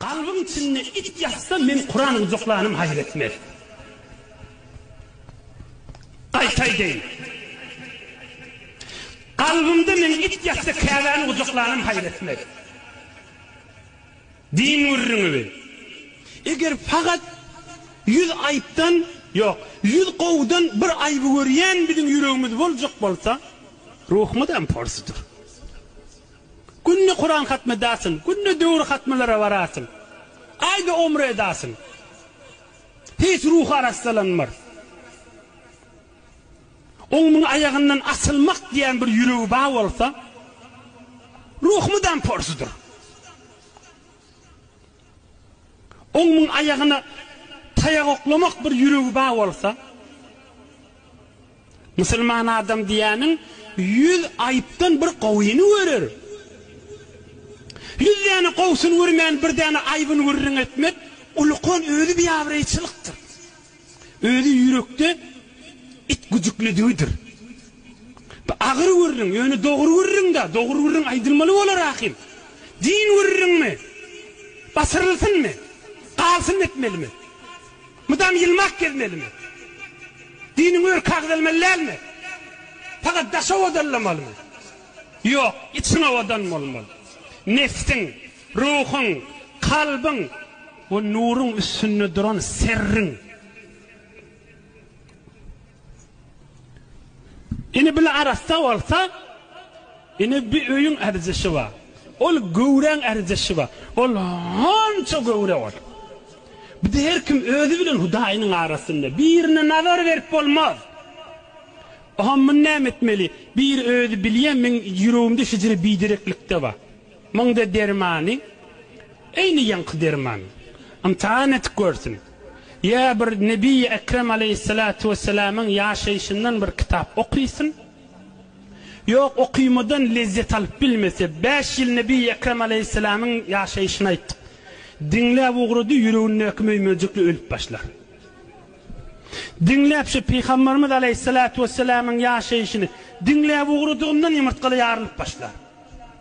Galbyň içinde it ýatsa men Kuran gujaklanym haýyr etmez. Gaýta aýdaýyn. Galbymda men it ýatsa Käbäni gujaklanym haýyr etmez. Din gürrüňi bi. Eger fakat ýüz aýypdan, ýok, ýüz gowudan bir aýyby görýän biziň ýüregimiz boljak bolsa, ruhumyzam porsudyr. Günde Kuran hatmy edasyň, günde döwür hatmylara barasyň, aýda omre edasyň. Hiç ruhy arassalanmar. Oňmuň aýagyndan asylmak diýän bir ýüregi bar bolsa, ruh mydam porsudyr. Oňmyň aýagyna taýak oklamak bir ýüregi bar bolsa, musulman adam diýýäniň ýüz aýypdan bir gowyny görer. Ýüz däne gowusyny görmän bir däne aýbyny gürrüň etmek ulukan özi biabraýçylykdyr. Özi ýürekde it güjüklidigidir. Bu agyr gürrüň, ýöne dogry gürrüň-dä, dogry gürrüň aýdylmaly bolar ahym. Din gürrüňmi? Basyrylsynmy? Galsyn etmelimi? Mydam ýylmak gezmelimi? Diniň örki agzalmaly dälmi? Pagat daş owadanlamalymy? Ýok, içiň owadan bolmaly. Nebsiň. Ruhuň, kalbyň we nuruň üstünde duran serriň. Indi bile arassa bolsa, indi bir öýüň ärjeşi bar. Ol göwräň ärjeşi bar. Ol hança göwre ol. Bide her kim özi bilen Hudaýynyň arasynda. Birine nazar berip bolmaz. Oha muny näme etmeli? Bir özi bilýän meň ýüregimde şejere bidereklikde bar. Munda dermany eýni ýaňky derman. Ymtahan edip görsün. Ýa bir Nebiýi Ekrem aleýhissalatu wessalamyň ýaşaýşyndan bir kitap okysyn. Ýok, okymadan lezzet alyp bilmese, bäş ýyl Nebiýi Ekrem aleýhissalamyň ýaşaýşyny aýtdyk. Diňläp ugrady, ýüregindäki möýmejikli ölüp başlar. Diňläp şu Pygamberimiz aleýhissalatu wessalamyň ýaşaýşyny diňläp ugradygyndan ýumurtgaly ýarylyp başlar.